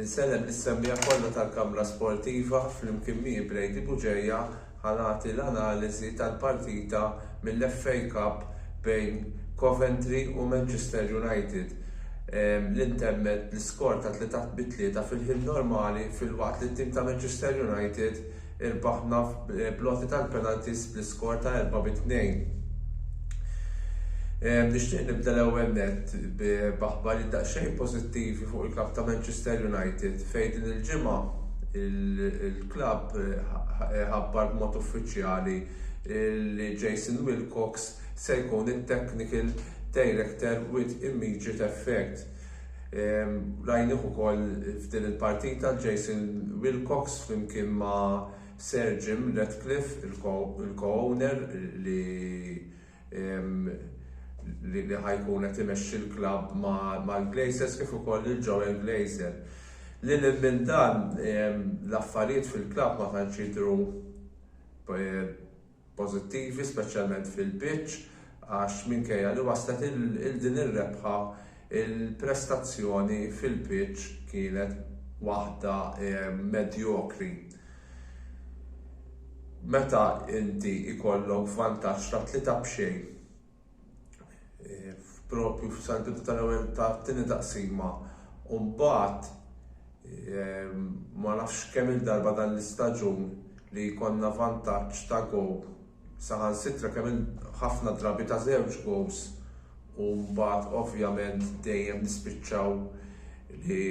Insellem lis-semmiegħa kollha tal-Kamra Sportiva flimkien miegħi Brady Bugeja ħa nagħti l-analiżi tal-partita mill-FA Cup bejn Coventry u Manchester United li ntemmet bl-iskor ta' tlieta bi tlieta fil-ħin normali filwaqt li t-tim ta' Manchester United Irbaħna bl-għoti tal-penalties bl-iskor ta' erbgħa bi tnejn. Nixtieq nibda l-ewwel nett b'aħbarijiet daqsxejn pożittivi fuq il-klabb ta' Manchester United fejn din il-ġimgħa il-klabb ħabbar b'mod uffiċjali li Jason Wilcox se jkun it-technical director with immediate effect. Rajnieh ukoll f'din il-partita Jason Wilcox flimkien ma' Sir Jim Ratcliffe, il-co-owner li li ħa jkun qed imexxi l-klabb mal-Glazers kif ukoll lil Joel Glazer. Lil hinn minn dan l-affarijiet fil-klabb ma tantx jidhru pożittivi speċjalment fil-pitch għax minkejja li waslet il din ir-rebħa il-prestazzjoni fil-pitch kienet waħda medjokri. Meta inti jkollok vantaġġ ta' tlieta b'xejn. propju f'sal-bidu tal-ewwel tat-tieni taqsima u mbagħad ehm, ma nafx kemm il-darba dan l-istaġun li jkollna vantaġġ ta' gow saħansitra kemm ħafna drabi ta' żewġ gows u mbagħad ovvjament dejjem nispiċċaw li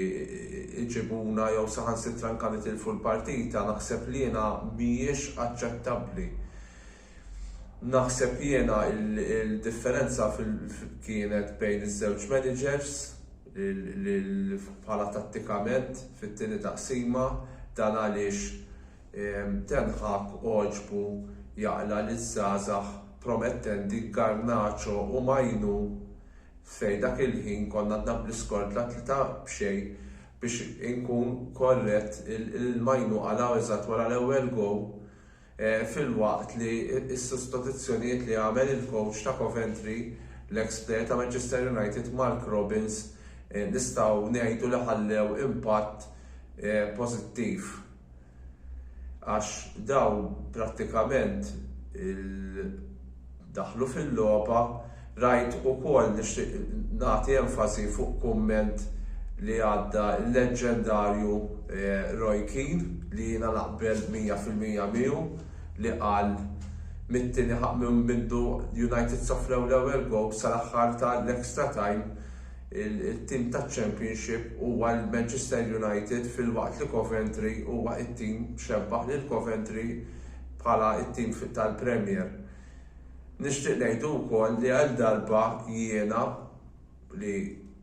iġibuna jew saħansitra anke nitilfu l-partita naħseb li jiena mhijiex aċċettabbli. Naħseb jiena il-differenza kienet bejn iż-żewġ managers li bħala tattikament fit-tieni taqsima dan għaliex Ten Hag għoġbu jaqla' liż-żgħażagħ promettenti Garnacho u Mainoo fej dak il-ħin konna għadna bl-iskor ta' tlieta b'xejn biex inkun korrett il-Mainoo qalgħu eżatt wara l-ewwel goal filwaqt li s-sostituzzjonijiet li għamel il-kowċ ta' Coventry, l-eks plejer ta' Manchester United, Mark Robins, nistgħu ngħidu li ħallew impatt pożittiv għax dawn prattikament il, daħlu fil-logħba, rajt ukoll nixtieq nagħti enfasi fuq kumment li għadda l-leġġendarju Roy Keane li jiena naqbel mija fil-mija miegħu li qal mit-tieni ħa minn mindu United sofrew l-ewwel gowl sal-aħħar ta' l-extra time it-tim taċ-Championship huwa l-Manchester United filwaqt li Coventry huwa t-tim xebbaħ lil Coventry bħala t-tim tal-Premier. Nixtieq ngħidu wkoll li għal darba jiena li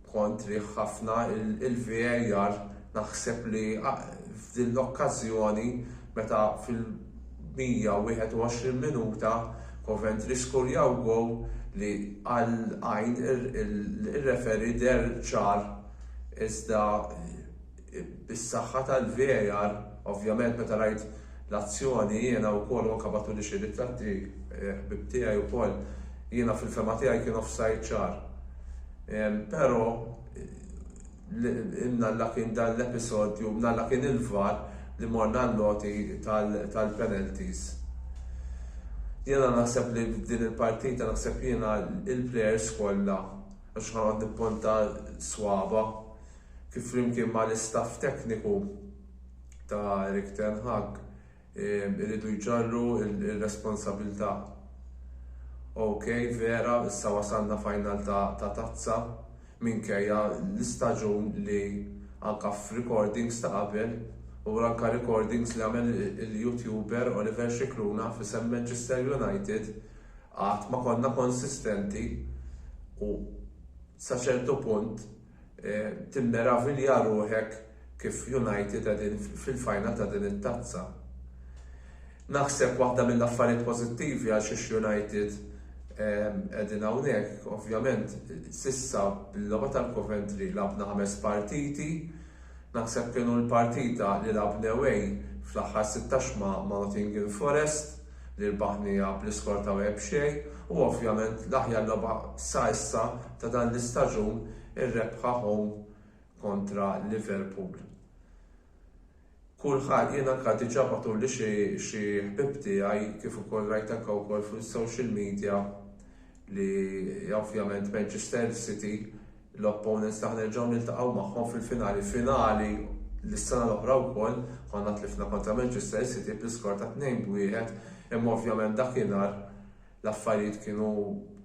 kontri ħafna il-VAR naħseb li f'din l-okkażjoni meta fil-121 minuta Coventry skurjaw goal li għal għajn ir-referee deher ċar iżda bis-saħħa tal-VAR, ovvjament meta rajt l-azzjoni jiena wkoll u anke bagħtuli xi ritratti ħbieb tiegħi wkoll, jiena fil-fehma tiegħi kien offside ċar. Però imnalla kien dan l-episodju u mnalla kien il-VAR li morna għall-għoti tal-penalties. Jiena naħseb li f'din il-partita naħseb jiena il-players kollha, mhux ħanoqgħod nippunta swaba', kif flimkien ma' l-istaff tekniku ta' Erik ten Hag iridu jġarru r-responsabilità. OK, vera, issa wasalna final ta' Tazza, minkejja l-istaġun li anka f'recordings ta' qabel, u anka recordings li għamel il-YouTuber Oliver Scicluna f'isem Manchester United, qatt ma konna konsistenti u sa ċertu punt, Timmeravilja ruħek kif United qegħdin fil-final ta' din it-tazza. Naħseb waħda mill-affarijiet pożittivi għal xiex United qegħdin hawnhekk, ovvjament, s'issa bil-logħba tal-Coventry lagħbna ħames partiti, Naħseb kienu l-partita li lagħbna away fl-aħħar sitta xma ma' Nottingham Forest li rbaħnieha bl-iskor ta' wieħed xejn u ovvjament l-aħjar logħba sa issa ta' dan l-istaġun ir-rebħa home kontra Liverpool. Kulħa jien anka diġa batuli xi xi ħbieb tiegħi kif ukoll rajt anka wkoll fuq is-social media li ovvjament Manchester City L-opponents tagħna nerġgħu niltaqgħu magħhom fil-finali finali li s-sena l-oħra wkoll konna tlifna kontra Manchester City bl-iskor ta' tnejn b' wieħed imma ovvjament dakinhar l-affarijiet kienu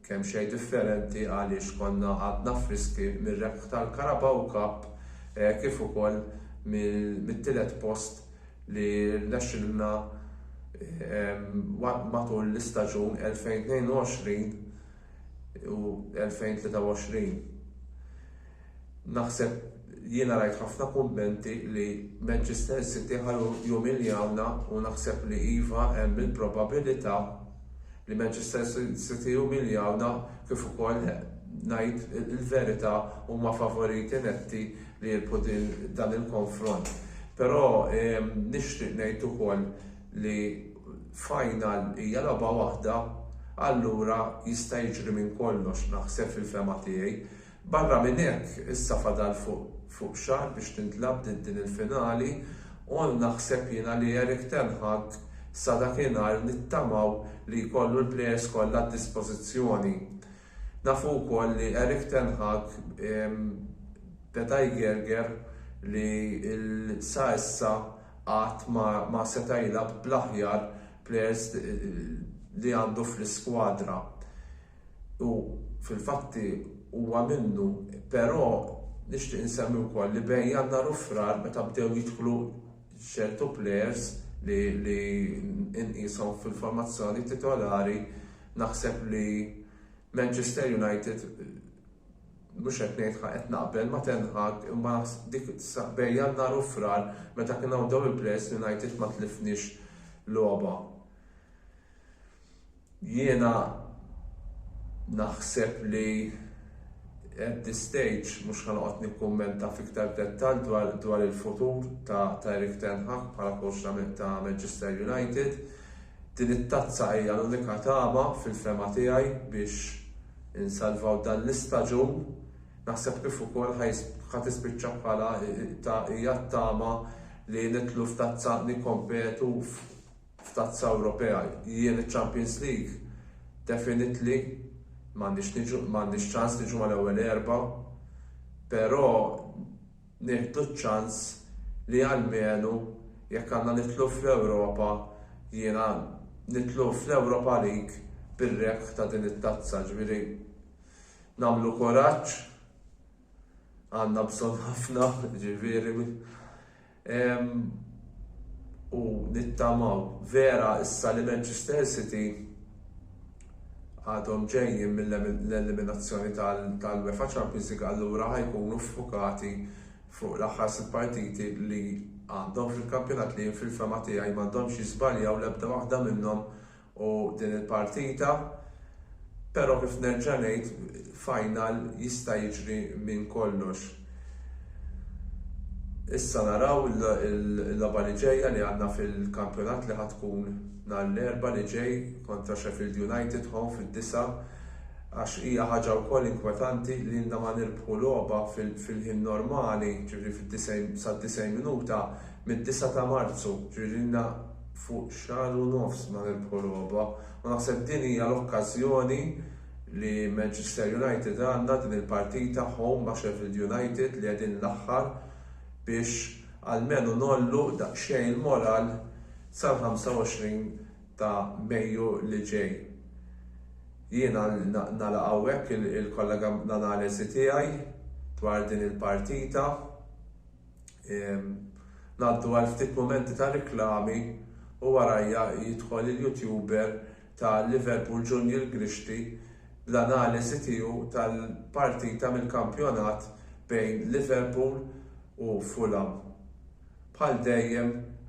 kemm xejn differenti għaliex konna għadna friski mir-rebħ tal-Carabao Cup kif ukoll mit-tielet post li rnexxilna matul l-istaġun 2022 u 2023. Naħseb jiena rajt ħafna kummenti li Manchester City ħa jumiljawna u naħseb li iva hemm il-probabilità li Manchester City jumiljawna kif ukoll ngħid il-verità huma favoriti netti li jirbħu dan il-konfront. Però ehm, nixtieq ngħid ukoll li final hija logħba waħda allura jista' jiġri minn kollox naħseb fil-fehma tiegħi. Barra minn hekk issa fadal fuq fuq xahar biex tintlagħab din din il-finali u naħseb jiena li Erik ten Hag sa dakinhar nittamaw li jkollu l-players kollha għad-dispożizzjoni. Nafu wkoll li Erik ten Hag beda jgerger li sa issa qatt ma seta' jilgħab bl-aħjar plejers li għandu fl-iskwadra u fil-fatti huwa minnu però nixtieq insemmi wkoll li bejn Jannar u Frar meta bdew jidħlu ċertu plejers li nqishom fil-formazzjoni titolari naħseb li Manchester United mhux qed ngħid qed naqbel ma' Ten Hag imma dik bejn Jannar u Frar meta kien hawn dawn il-plejers l-United ma tlifniex logħba. Jiena naħseb li at this stage mhux ħa noqgħod nikkummenta f'iktar dettall dwar il-futur ta' Erik ten Hag bħala kowċ ta' Manchester United. Din it-tazza hija l-unika tama fil-fehma tiegħi biex insalvaw dan l-istaġun. Naħseb kif ukoll ħa tispiċċa bħala hija t-tama li nidħlu f'tazza nikkompetu f'Tazza Ewropea jien iċ-Champions League definitely m'għandix niġu m'għandix ċans niġu mal-ewwel erba' però nieħdu ċ-ċans li almenu jekk għandna nidħlu fl-Ewropa jiena nidħlu fl-Europa League bir-rebħ ta' din it-tazza ġifieri nagħmlu kuraġġ għandna bżonn ħafna ġifieri u nittamaw vera issa li Manchester City għadhom ġejjin mill-eliminazzjoni tal-UEFA Champions League allura ħa jkunu ffukati fuq l-aħħar sitt partiti li għandhom fil-kampjonat li jien fil-fehma tiegħi m'għandhomx jiżbaljaw l-ebda waħda minnhom u din il-partita, pero kif nerġa' ngħid final jista' jiġri minn kollox. Issa naraw il-logħba li ġejja li għandna fil-kampjonat li ħa tkun nhar l-Erbgħa li ġej kontra Sheffield United home fid-disgħa għax hija ħaġa wkoll inkwetanti li ilna ma nirbħu logħba fil-ħin normali, ġifieri sad-90 minuta mid-disgħa ta' Marzu, ġifieri ilna fuq xahar u nofs ma rebħu logħba u naħseb din hija l-okkażjoni li Manchester United għandna din il-partita home ma' Sheffield United li qegħdin l-aħħar biex almenu ngħollu daqsxejn il-moral sal-25 ta' Mejju li ġej. Jiena nagħlaq hawnhekk il-kollega l-analiżi tiegħi dwar din il-partita. Ngħaddu għal ftit mumenti ta' riklami u warajja jidħol il-YouTuber ta' Liverpool Junior Grixti bl-analiżi tiegħu tal-partita mill-kampjonat bejn Liverpool u Fulham. Bħal dejjem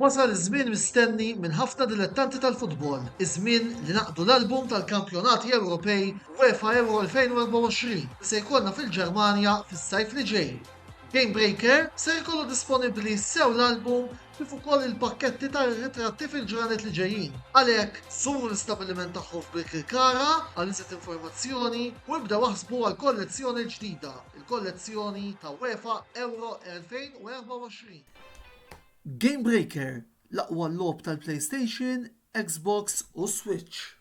Wasal iż-żmien mistenni minn ħafna dilettanti tal-futbol, iż-żmien li naqdu l-album tal-kampjonati Ewropej UEFA Euro 2024 li se jkollna fil-Ġermanja fis-sajf li ġej. Gamebreaker ser ikollu disponibbli sew l-album kif ukoll il-pakketti ta' ritratti fil-ġranet li ġejjin. Għalhekk, żuru l-istabbiliment tagħhom f'Birkirkara għal iżjed informazzjoni u ibdew aħsbu għall-kollezzjoni l-ġdida, il-kollezzjoni ta' UEFA Euro 2024. Gamebreaker, l-aqwa logħob tal-PlayStation, Xbox u Switch.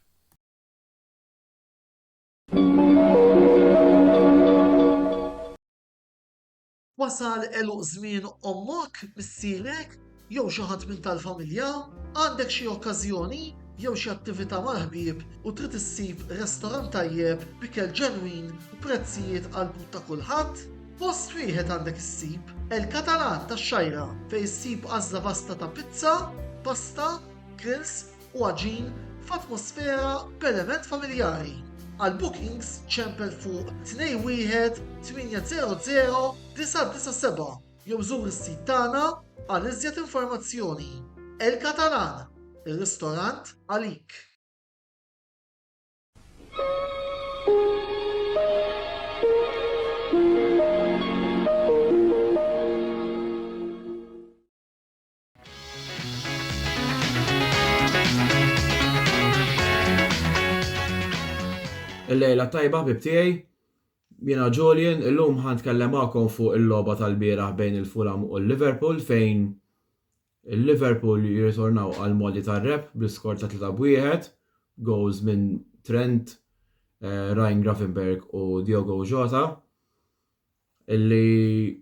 Wasal għeluq żmien ommok, missierek, jew xi ħadd minn tal-familja? Għandek xi okkażjoni jew xi attività mal-ħbieb u trid issib restorant tajjeb b'ikel ġenwin u prezzijiet għall-but ta' kulħadd? Post wieħed għandek issib, El Catalan tax-Xgħajra, fejn issib għażla vasta ta' pizza, pasta, grills, u għaġin f'atmosfera b'element familjari. Għal bookings ċempel fuq 21 800 997 jew żur is-sit tagħna għal iżjed informazzjoni. El Catalan, ir-ristorant għalik. Il-lejla tajba ħbib tiegħi. Jiena Julian, illum ħan tkellem magħkom fuq il-logħba tal-bieraħ bejn il-Fulham u l-Liverpool fejn il-Liverpool jirritornaw għal modi tar-rep bl-iskor ta' 3 b'wieħed, goals minn Trent, eh, Ryan Gravenberg u Diogo Jota illi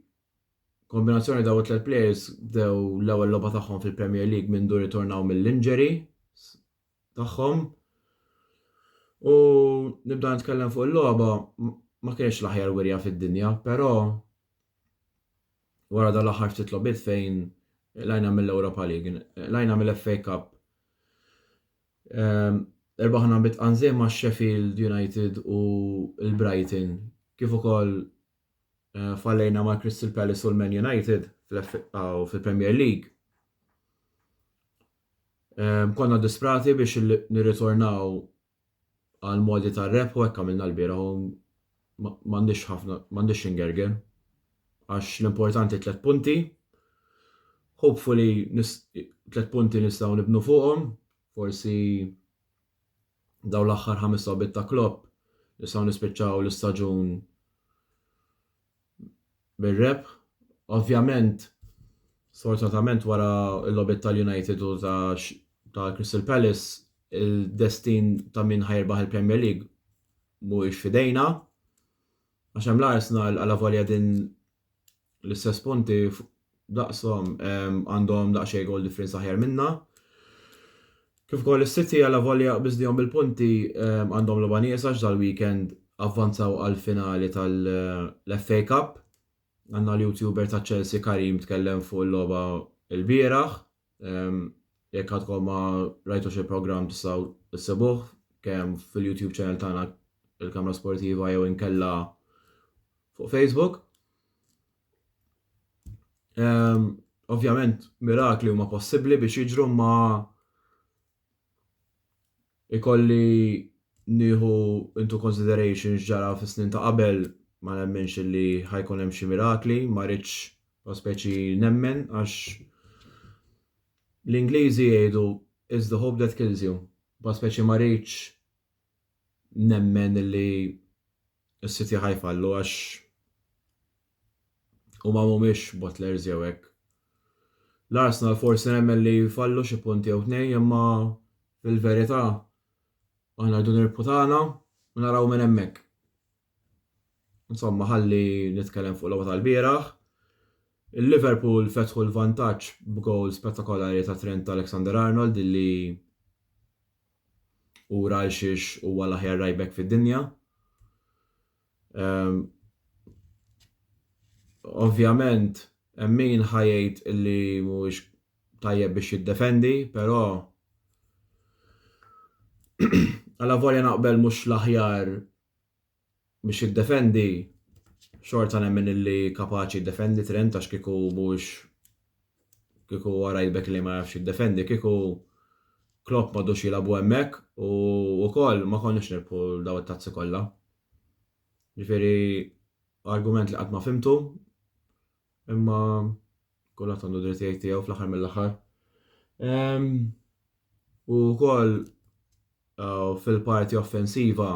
Kombinazzjoni dawn it-tliet players bdew l-ewwel logħba tagħhom fil-Premier League mindu rritornaw mill-injury tagħhom. U nibda nitkellem fuq il-logħba ma kienx l-aħjar wirja fid-dinja, però wara dan l-aħħar ftit logħbiet fejn lajna mill-Europa League, lajna mill-FA Cup. Ehm, Erbaħna bit qanżiem ma' Sheffield United u l-Brighton, kif ukoll Eh, fallejna ma' Crystal Palace u l-Man United fil-Premier League. Eh, konna disprati biex nirritornaw għal modi ta' rep u ekka minna l-bira u mandiċ ħafna, mandiċ ingerger. Għax l-importanti tlet punti, hopefully tlet punti nistaw nibnu fuqom, forsi dawn l-aħħar ħames logħbiet ta' Klopp nistgħu nispiċċaw l-istaġun bir-rebħ. Ovvjament, sfortunatament wara l-logħbiet tal-United u ta' ta' Crystal Palace, il-destin ta' min ħajrbaħ il-Premier League mhuwiex fidejna. Għax hemm l-Arsenal għala volja din l-istess punti daqshom għandhom daqsxejn goal difference aħjar minna. Kif ukoll is-City għal volja biżdihom bil-punti għandhom logħba nieqsa dal-weekend avvanzaw għal finali tal-FA Cup. Għandna l-YouTuber ta' Chelsea Karim tkellem fuq il-logħba l-bieraħ Jekk għadkom ma rajtux il-programm tistgħu issibuh kemm fil-YouTube channel tagħna il-Kamra Sportiva jew inkella fuq Facebook. Ovvjament mirakli huma possibbli biex jiġru ma Ikolli nieħu into consideration x'ġara fis-snin ta' qabel, ma nemminx illi ħa jkun hemm xi mirakli, ma rridx u speċi nemmen għax l-Ingliżi jgħidu it's the hope that kills you, u speċi ma rridx nemmen illi s-City ħa jfallu għax. Huma mhumiex bottlers jew hekk. L-Arsenal forsi nemmen li jfallu xi punt jew tnejn imma fil-verità aħna rridu nirbħu tagħna u naraw minn hemmhekk. Insomma ħalli nitkellem fuq logħba tal-bieraħ. Il-Liverpool fetħu l-vantaġġ b'gowl spettakolari ta' Trent Alexander Arnold li ura għal xiex huwa l-aħjar right back fid-dinja. Ehm, Ovvjament, hemm min ħa jgħid li mhuwiex tajjeb biex jiddefendi, però għala volja naqbel mhux l-aħjar biex jiddefendi, xorta nemmen li kapaċi jiddefendi Trent għax kieku mhux kieku huwa right back li ma jafx jiddefendi kieku Klopp m'għadux jilagħbu hemmhekk u wkoll ma konniex nirbħu daw it-tazzi kollha. Ġifieri argument li qatt ma fimtu imma kulħadd għandu dritt jgħid tiegħu fl-aħħar mill-aħħar. Ehm, u wkoll eh, fil-parti offensiva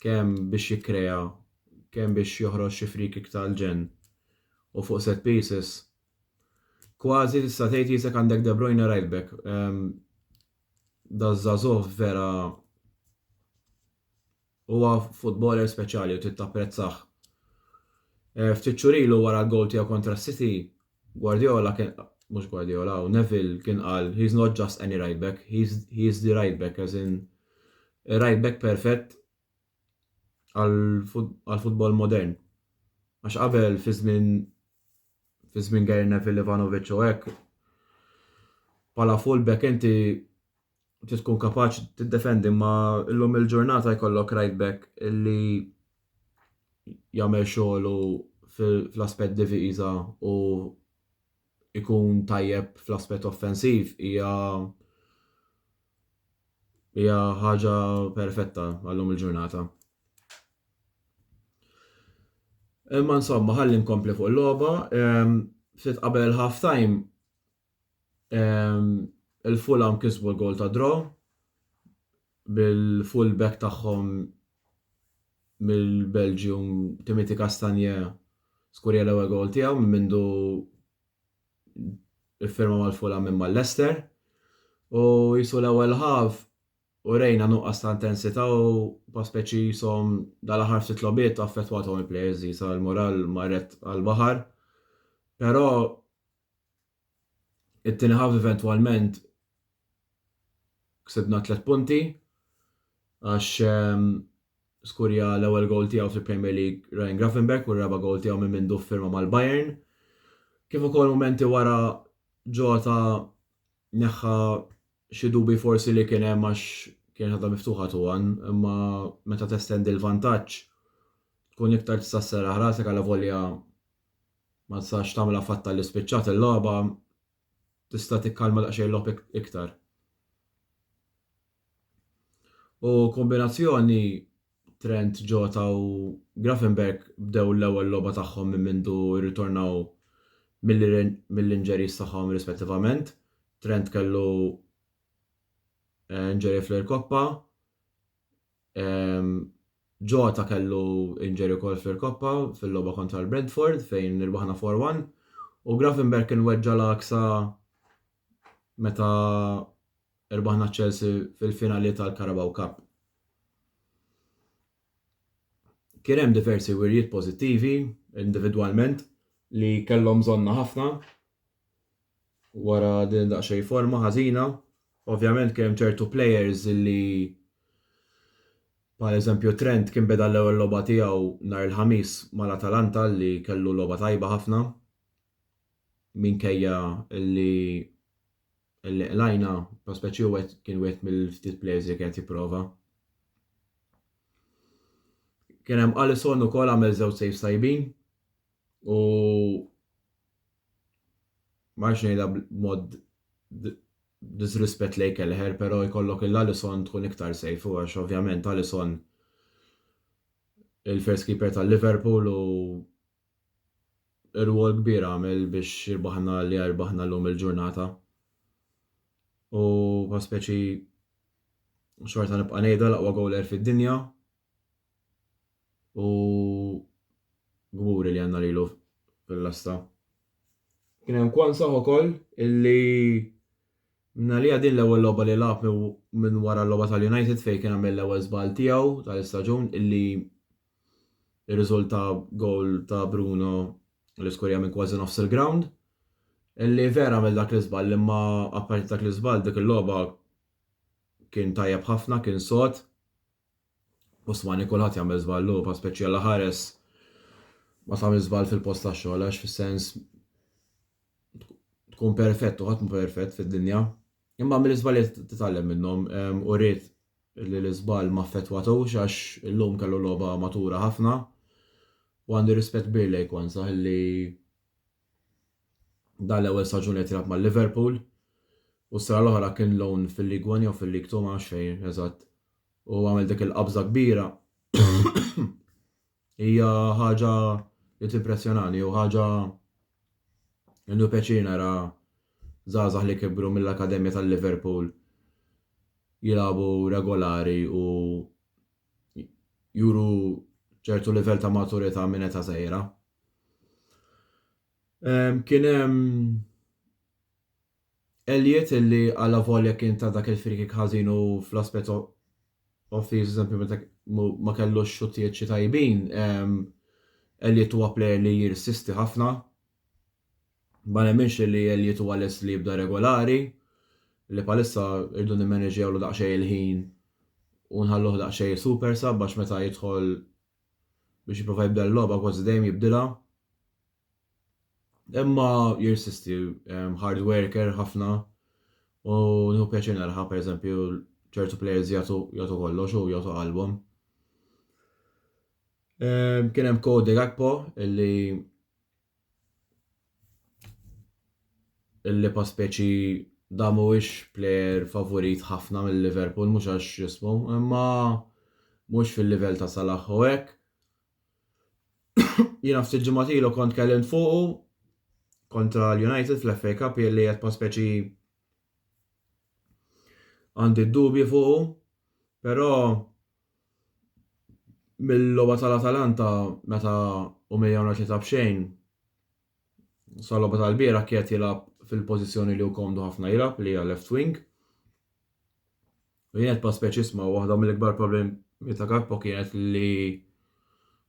kemm biex jikkrea kemm biex joħroġ xi free kick tal-ġenn u fuq set pieces kważi tista' tgħid Isak għandek De Bruyne right back. Ehm, da żagħżugħ vera huwa futboler speċjali u trid tapprezzah. Eh, ftit xurilu wara l-gowl tiegħu kontra City Guardiola kien, mhux Guardiola, hawn Neville kien qal he's not just any right back, he's he is the right back as in ir-right back perfett għall-futbol modern. Għax qabel fi żmien fi żmien Gary Neville, Ivanovic u hekk bħala full back inti trid tkun kapaċi tiddefendi ma illum il-ġurnata jkollok right back li jagħmel xogħlu fl-aspett diviża u ikun tajjeb fl-aspett offensiv hija hija ħaġa perfetta għallum il-ġurnata. Imma insomma, ħalli nkompli fuq il-logħba, ftit qabel il-half time Il-Fulham kisbu l-goal ta' draw bil-full back tagħhom mill-Belgium Timothy Castagne skurja l-ewwel goal tiegħu minn mindu iffirma mal-Fulham minn mal-Leicester. U jisu l-ewwel ħaf u rejna nuqqas ta' intensità u pa' speċi jisom dal-aħħar ftit lobiet affettwathom il-players jisa l-moral marret għal-baħar. Però It-tieni half eventwalment ksibna tliet punti għax skurja l-ewwel gowl tiegħu fil-Premier League Ryan Gravenberch u r-raba' gowl tiegħu minn mindu ffirma mal-Bayern. Kif ukoll mumenti wara Jota neħħa xi dubji forsi li kien hemm għax kienet għadha miftuħa 2-1 imma meta testendi l-vantaġġ tkun iktar tista' sserraħ rasek allavolja Ma tistax tagħmilha fatta li spiċċat il-logħba, tista' tikkalma daqsxejn il-logħob iktar. U kombinazzjoni Trent, Jota u Gravenberch bdew l-ewwel logħba tagħhom minn mindu rritornaw mill-injuries tagħhom rispettivament. Trent kellu eh, injury fl-irkoppa, Jota kellu injury ukoll fl-Irkoppa fil-logħba kontra l-Brentford fejn irbaħna 4-1 u Gravenberch kien weġġa' l-għaksa meta irbaħna Chelsea fil-finali tal-Carabao Cup. Kien hemm diversi wirjiet pożittivi individwalment li kellhom bżonnha ħafna wara din id-daqsxejn forma ħażina. Ovvjament kien hemm ċertu players li bħal eżempju Trent kien beda l-ewwel logħba tiegħu nhar il-Ħamis mal-Atalanta li kellu logħba tajba ħafna minkejja li li qlajna prospeċi u kien wieħed mill-ftit players li kien qed jipprova. Kien hemm Alisson ukoll għamel żewġ saves tajbin u ma rridx ngħidha b'mod b'disrispett lejn Kelleher, però jkollok lil Alisson tkun iktar safe u għax ovvjament Alisson il-first keeper ta' Liverpool u rwol kbir għamel biex irbaħna li rbaħna llum il-ġurnata. U pa speċi xorta nibqa' ngħidha l-aqwa goaler fid-dinja U gburi li għandna lilu fil-lasta. Kien hemm Kwanzah ukoll illi minħalija din l-ewwel logħba li lagħab minn wara l-logħba tal-United fejn kien għamel l-ewwel żball tiegħu tal-istaġun illi rriżulta gowl ta' Bruno li skurja minn kważi nofs il-grawnd illi vera għamel dak l-iżball imma apparti dak l-iżball dik il-logħba kien tajjeb ħafna, kien sod. Osmani kulħadd jagħmel żball hu bħal speċjela ħares ma tagħmilx żball fil-post tax-xogħol għax fis-sens tkun perfett u ħadd mhu perfett fid-dinja. Imma mill-iżbalji titgħallem minnhom u ried li l-iżball ma affettwatux għax illum kellu logħba matura ħafna u għandi rispett kbir lejk u ansaħ li Dan l-ewwel staġun qed jilgħab ma' Liverpool u s-sena l-oħra kien loan fil-League One jew fil-League Two ma nafx fejn eżatt u għamel dik il-qabża kbira hija ħaġa li timpressjonani u ħaġa innu pjaċir nara żgħażagħ li kibru mill-akademja tal-Liverpool jilagħbu regolari u juru ċertu livell ta' maturità minn età żgħira. Kien hemm Elliott illi għala volja kien ta' dak il-frikik ħażin u fl-aspett offensiv eżempju meta ma kellux xuttijiet xi tajbin, Elliott huwa plejer li jirsisti ħafna. Ma nemminx li Elliott huwa lest li jibda regolari, li bħalissa rridu nimmaneġġjawlu daqsxejn il-ħin u nħalluh daqsxejn super sub għax meta jidħol biex jipprova jibdel il-logħba kważi dejjem jibdilha. Imma jirsisti hard worker ħafna u nieħu pjaċir naraha pereżempju ċertu players jagħtu jagħtu kollox u jagħtu qalbhom. Kien hemm Cody Gakpo illi Il-Lipa speċi dan mhuwiex plejer favurit ħafna minn Liverpool mhux għax jismu, imma mhux fil-livell ta' Salah u hekk. Jiena ftit ġimgħat ilu kont kellimt fuqu kontra l-United fl-FA Cup li qed pa' speċi għandi d-dubji fuqu, però Mill-logħba tal-Atalanta meta Ouméa ma ċeta b'xejn sal-logħba tal-bieraħ qiegħed jilgħab fil-pożizzjoni li hu komdu ħafna jilgħab li hija left wing. U jien qed pass speċisma waħda mill-ikbar problemi ta' Gakpo kienet li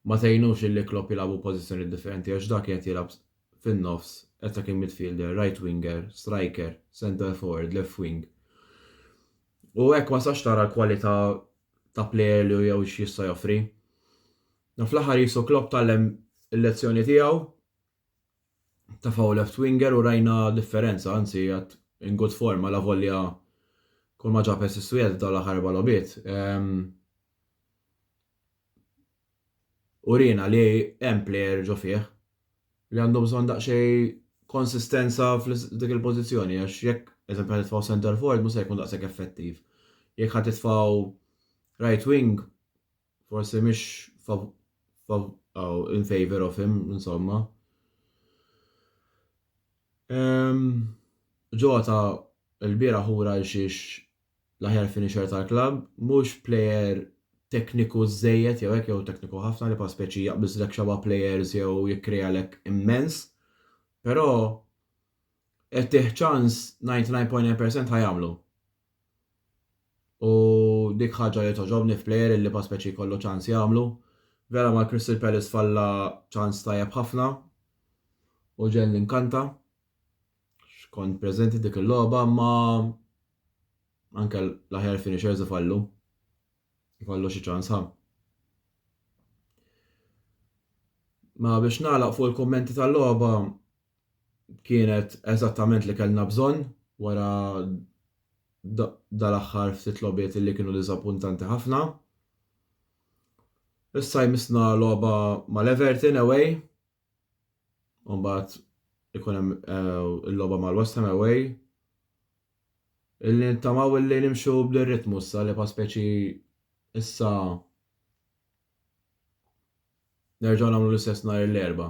ma tgħinux illi Klopp jilagħbu pożizzjoni differenti għax dak qiegħed jilgħab fin-nofs attacking midfielder, right winger, striker, centre forward, left wing. U hekk ma tistax tara l-kwalità ta' plejer li hu jew x'jista' joffri. Dan fl-aħħar qisu Klopp tgħallem il-lezzjoni tiegħu tafaw left winger u rajna differenza, anzi qiegħed in good form alavolja kulma ġab assist wieħed f'dawn l-aħħar erba' logħbiet. Uriena li hemm plejer ġo fih li għandu bżonn daqsxejn konsistenza f'dik il-pożizzjoni għax jekk, eżempju, ħa titfgħu centre forward mhux se jkun daqshekk effettiv. Jekk ħa titfgħu right wing forsi mhix in favour of him, insomma. Ġota l-bieraħ ura għal xiex l-aħjar finisher tal-klabb, mhux plejer tekniku żżejjed jew hekk jew tekniku ħafna li bħal speċi jaqbiżlek xeba' plejers jew jikkrealek immens, però jekk tih ċans 99.9 percent ħa jagħmlu. U dik ħaġa li togħġobni f'plejer illi bħal speċi jkollu ċans jagħmlu. Vera mal-Crystal Palace falla ċans tajjeb ħafna u ġenn inkanta. Kont preżenti dik il-logħba imma anke l-aħjar finishers ifallu. Ifallu xi ċans ħa. Ma biex nagħlaq fuq il-kummenti tal-logħba kienet eżattament li kellna bżonn wara dal-aħħar ftit logħbiet li kienu diżappuntanti ħafna. Issa jmissna logħba mal-Everton away u mbagħad ikun hemm eh, il-logħba mal-West Ham away. Illi nittamaw illi nimxu bl-ritmu issa li pa speċi issa nerġgħu nagħmlu l-istess nhar l-erba.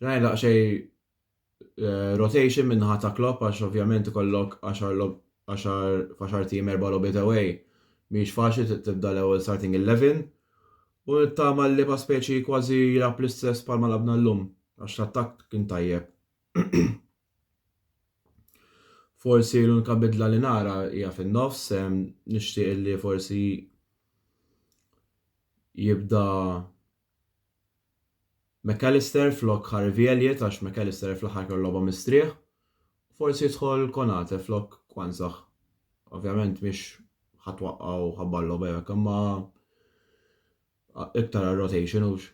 Rajna daqsxej eh, rotation minn ħata Klopp għax ovvjament ikollok 10 faxar tim erba' logħbiet away. Mhix faċli tibda l-ewwel starting 11 U nittama li pa' speċi kważi jilgħab l-istess bħalma lagħabna llum, għax l-attakk kien tajjeb. Forsi l-unika bidla li nara hija fin-nofs, nixtieq illi forsi jibda McAllister flok Harvey Elliott għax McAllister fl-aħħar kellu logħba mistrieħ Forsi jidħol Konate flok Quansah. Ovvjament mhix ħa twaqqa' u ħabbar logħba jew hekk imma iktar għar-rotation hux.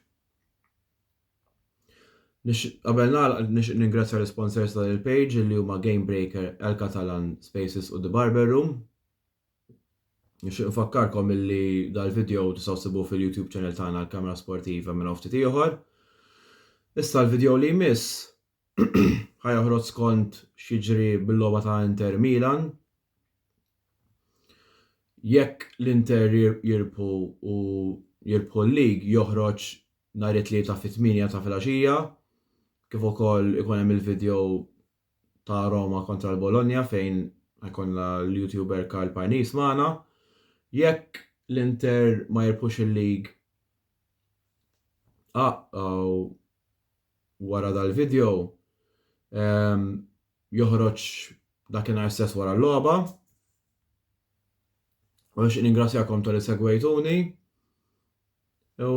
Nix, qabel nagħlaq nixtieq ningrazzja l-isponsors ta' il-page li huma Game Breaker, El Catalan, Spaces u The Barber Room. Nixtieq nfakkarkom illi dal-video tistgħu sibu fil-YouTube channel tagħna l-Kamra Sportiva minn ftit ieħor. Issa l-video li jmiss ħa joħroġ skont x'jiġri bil-logħba ta' Inter Milan. Jekk l-Inter jirbħu u jirbħu l-lig joħroġ nhar it-Tlieta fit-tmienja ta' filgħaxija kif ukoll ikun hemm il-video ta' Roma kontra l-Bologna fejn ħajkollna l-YouTuber Karl Parnis magħna. Jekk l-Inter ma jirbħux il-lig uh-oh, wara dal-video joħroġ dakinhar stess wara l-logħba. U nixtieq ningrazzjakom tal-li segwejtuni. U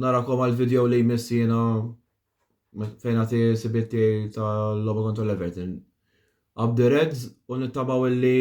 narakom għal-video li jmiss jiena fejn għati sibitti tal-logħba kontra l-Everton. Up the Reds u nittabaw li